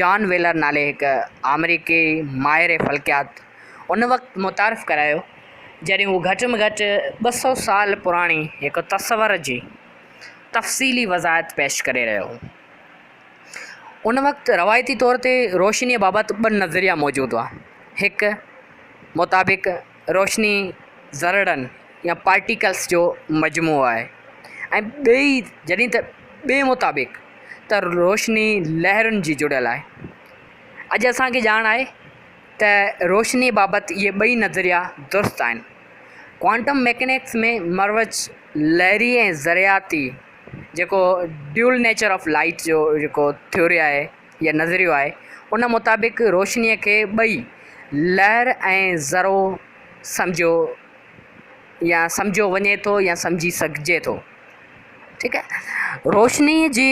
جان Wheeler نالي هڪ آمريڪي ماهر فلڪيات ان وقت متعارف ڪرايو جڏهن هو گهٽ ۾ گهٽ ٻه سؤ سال پراڻي هڪ تصور جي تفصيلي وضاحت پيش ڪري رهيو هو ان وقت روايتي طور تي روشنيء بابت ٻه نظريا موجود هئا هڪ مطابق روشني ذرڙن يا پارٽيڪلس جو مجموعو آهي ۽ ٻئي جڏهن ته ٻئي مطابق ته روشني لهرن جي جڙيل آهي اڄ اسانکي ڄاڻ آهي ته روشني بابت اهي ٻئي نظريا درست آهن ڪوانٽم ميڪنڪس ۾ مروج لهري ذرياتي جيڪو ڊيول نيچر آف لائيٽ جو جيڪو ٿيوري آهي يا نظريو آهي، ان مطابق روشنيء کي ٻئي، لهر ۽ ذرو، سمجهيو يا سمجهيو وڃي ٿو يا سمجهي سگهجي ٿو. ٺيڪ آهي. روشنيء جي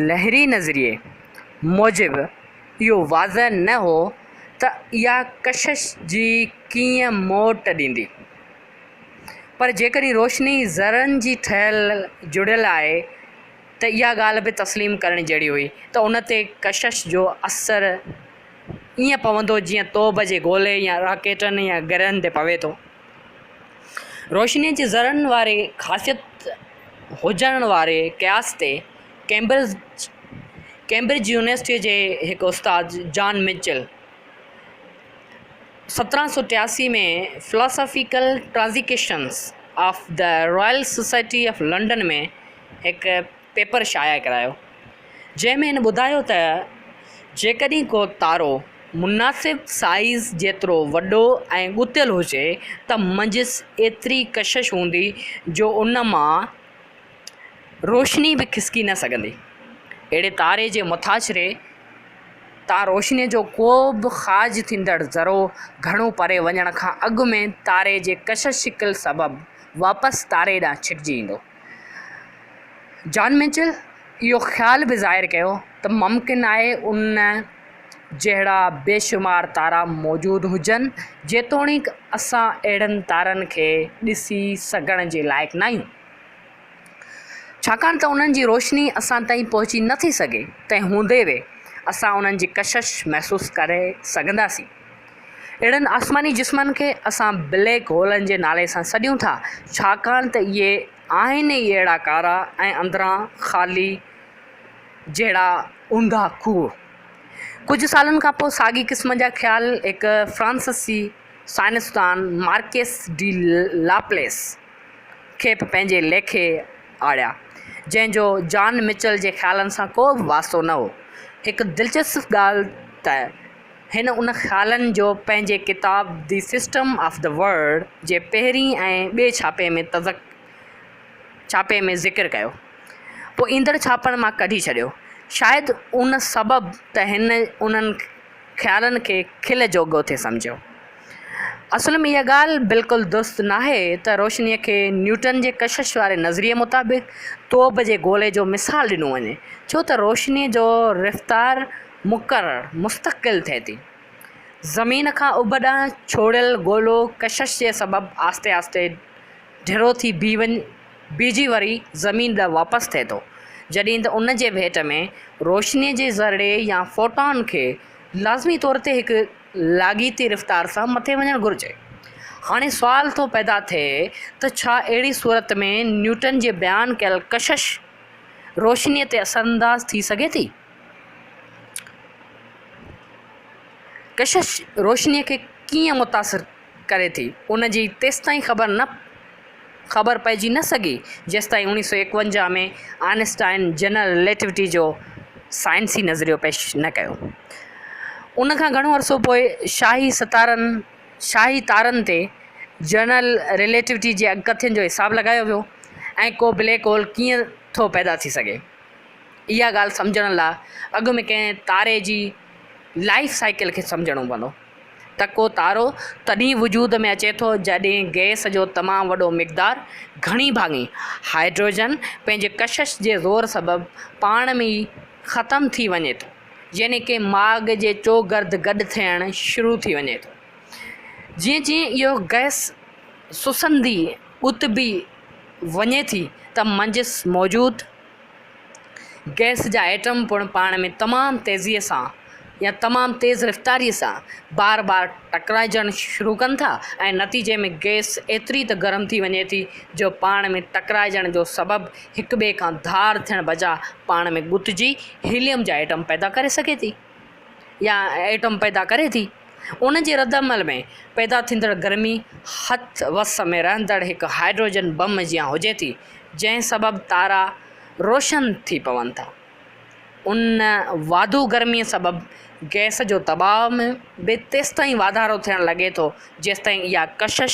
لهري نظريي موجب اهو واضح نه هو ته اها ڪشش جي ڪيئن موٽ ڏيندي. پر جيڪڏهن روشني ذرن جي ٺهيل جڙيل آهي، ته اها ڳالهه به تسليم ڪرڻ جهڙي هئي ته ان تي ڪشش جو اثر ائين پوندو جيئن توب جي گولي يا راڪيٽن يا گرهن تي پوي ٿو. روشنيء جي ذرن واري خاصيت هجڻ واري قياس تي ڪيمبرج يونيورسٽيء جي هڪ استاد جان مچل سترهن سؤ ٽياسي ۾ Philosophical Transitions of the Royal Society of London ۾ هڪ پيپر شايع ڪرايو جنهن ۾ هن ٻڌايو ته جيڪڏهن ڪو تارو مناسب سائيز جيترو وڏو ۽ ڳتيل هجي ته منجهس ايتري ڪشش هوندي جو ان مان روشني به کسڪي نه سگهندي. اهڙي تاري جي مٿاڇري تان روشني جو ڪو به خارج ٿيندڙ ذرو گهڻو پري وڃڻ کان اڳ ۾ تاري جي ڪشش شڪل سبب واپس تاري ڏانهن ڇڪجي ايندو. جان ميچل اهو خيال به ظاهر ڪيو ته ممڪن آهي ان جهڙا بيشمار تارا موجود هجن، جيتوڻيڪ اسان اهڙن تارن کي ڏسي سگهڻ جي لائق ناهيون، ڇاڪاڻ ته انهن جي روشني اسان تائين پهچي نٿي سگهي، تنهن هوندي به اسان انهن جي ڪشش محسوس ڪري سگهنداسين. اهڙن آسماني جسمن کي اسان بليڪ هولن جي نالي سان سڏيون ٿا ڇاڪاڻ ته اهي آهن ئي اهڙا ڪارا ۽ اندران خالي جهڙا اونڌا کوهه. ڪجهه سالن کان پوء ساڳي قسم جا خيال هڪ فرانسسي سائنسدان مارڪيس ڊي لاپليس کي به پنهنجي ليکي آڙيا جنهن جو جان مچل جي خيالن سان ڪو به واسطو نه هو. هڪ دلچسپ ڳالهه ته هن ان خيالن جو پنهنجي ڪتاب the system of the world جي پهرين ۽ ٻئي ڇاپي ۾ تذڪ ڇاپي ۾ ذڪر ڪيو پوء ايندڙ ڇاپن مان ڪڍي ڇڏيو شايد ان سبب ته هن انهن خيالن کي کل جوڳو ٿي سمجهيو اصل ۾ اها ڳالهه بلڪل درست ناهي ته روشني کي نيوٽن جي ڪشش واري نظريي مطابق توب جي گولي جو مثال ڏنو وڃي ڇو ته روشني جو رفتار مقرر، مستقل، ٿئي ٿي. زمين کان اڀ ڏانهن ڇوڙيل گولو ڪشش جي سبب آهستي آهستي ڍرو ٿي بيهجي وري زمين ڏانهن واپس ٿئي ٿو، جڏهن ته ان جي ڀيٽ ۾ روشنيء جي ذرڙي يا فوٽان کي لازمي طور تي هڪ لاڳيتي رفتار سان مٿي وڃڻ گهرجي. هاڻي سوال ٿو پيدا ٿئي ته ڇا اهڙي صورت ۾ نيوٽن جي بيان ڪيل ڪشش روشنيء تي اثرانداز ٿي سگهي ٿي؟ ڪشش روشنيء کي ڪيئن متاثر ڪري ٿي، ان جي تيستائين خبر پئجي نه سگهي، جيستائين اوڻيهه سؤ ايڪونجاهه ۾ آئن اسٽائن جنرل رليٽوٽي جو سائنسي نظريو پيش نه ڪيو. ان کان گهڻو عرصو پوء شاهي ستارن، شاهي تارن، تي جنرل رليٽوٽي جي اڳڪٿين جو حساب لڳايو ويو ۽ ڪو بليڪ هول ڪيئن ٿو پيدا ٿي سگهي. اها ڳالهه سمجهڻ لاء اڳ ۾ ڪنهن تاري جي لائيف سائيڪل کي سمجهڻو پوندو ته ڪو تارو تڏهن وجود ۾ اچي ٿو جڏهن گئس جو تمام وڏو مقدار گهڻي ڀاڱي هائڊروجن پنهنجي ڪشش جي زور سبب پاڻ ۾ ئي ختم ٿي وڃي ٿو يعني ڪنهن ماڳ جي چوگرد گڏ ٿيڻ شروع ٿي وڃي ٿو جيئن جيئن اهو گئس سسندي اتبي وڃي ٿي ته منجهس موجود گئس جا ايٽم پڻ پاڻ ۾ تمام تيزيء سان يا تمام تيز رفتاريء سان بار بار ٽڪرائجڻ شروع ڪن ٿا ۽ نتيجي ۾ گئس ايتري ته گرم ٿي وڃي ٿي جو پاڻ ۾ ٽڪرائجڻ جو سبب هڪٻئي کان ڌار ٿيڻ بجاء پاڻ ۾ ڳتجي هيليم جا ايٽم پيدا ڪري سگهي ٿي. يا ايٽم پيدا ڪري ٿي، ان جي ردعمل ۾ پيدا ٿيندڙ گرمي هٿ وس ۾ رهندڙ هڪ هائڊروجن بم جيان هجي ٿي، جنهن سبب تارا روشن ٿي پون ٿا. ان واڌو گرميء سبب گئس جو دٻاء ۾ به تيستائين واڌارو ٿيڻ لڳي ٿو، جيستائين اها ڪشش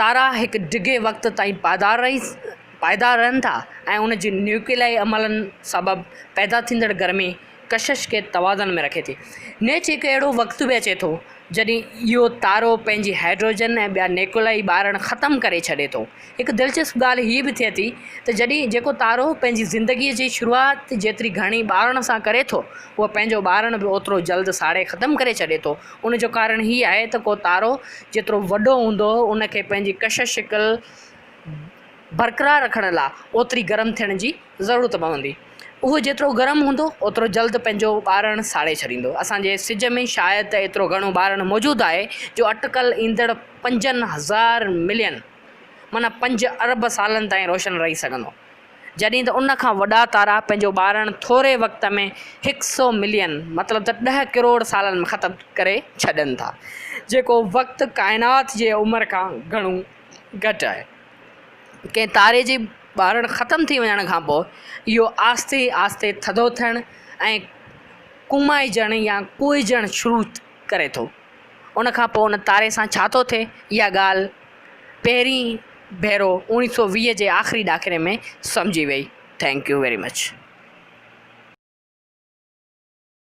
تارا هڪ ڊگهي وقت تائين پائيدار رهن ٿا ۽ ان جي نيوڪليائي عملن سبب پيدا ٿيندڙ گرمي ڪشش کي توازن ۾ رکي ٿي. نيچ هڪ اهڙو وقت به اچي ٿو، جڏهن اهو تارو پنهنجي هائڊروجن ۽ ٻيا نيوڪليائي ٻارڻ ختم ڪري ڇڏي ٿو. هڪ دلچسپ ڳالهه هيء به ٿئي ٿي ته جڏهن جيڪو تارو پنهنجي زندگيء جي شروعات جيتري گهڻي ٻارڻ سان ڪري ٿو، اهو پنهنجو ٻارڻ به اوترو جلد ساڙي ختم ڪري ڇڏي ٿو. ان جو ڪارڻ هي آهي ته ڪو تارو جيترو وڏو هوندو ان کي پنهنجي ڪش شڪل برقرار رکڻ لا اوتري گرم ٿيڻ جي ضرورت پوندي اهو جيترو گرم هوندو اوترو جلد پنهنجو ٻارڻ ساڙي ڇڏيندو اسان جي سج ۾ شايد ته ايترو گهڻو ٻارڻ موجود آهي جو اٽڪل ايندڙ پنجن هزار ملين معنيٰ پنج ارب سالن تائين روشن رهي سگهندو جڏهن ته ان کان وڏا تارا پنهنجو ٻارڻ ٿوري وقت ۾ هڪ سئو ملين مطلب ته ڏهه ڪروڙ سالن ۾ ختم ڪري ڇڏين ٿا جيڪو وقت ڪائنات جي عمر کان گهڻو گهٽ آهي ڪنهن تاري جي ٻارڻ ختم ٿي وڃڻ کان پوء اهو آهستي آهستي ٿڌو ٿيڻ ۽ ڪومائجڻ يا ڪوئجڻ شروع ڪري ٿو ان کان پوء ان تاري سان ڇا ٿو ٿئي اها ڳالهه پهرين ڀيرو اوڻيهه سؤ ويهه جي آخري ڏاڪڻي ۾ سمجهي وئي ٿينڪ يو ويري مچ.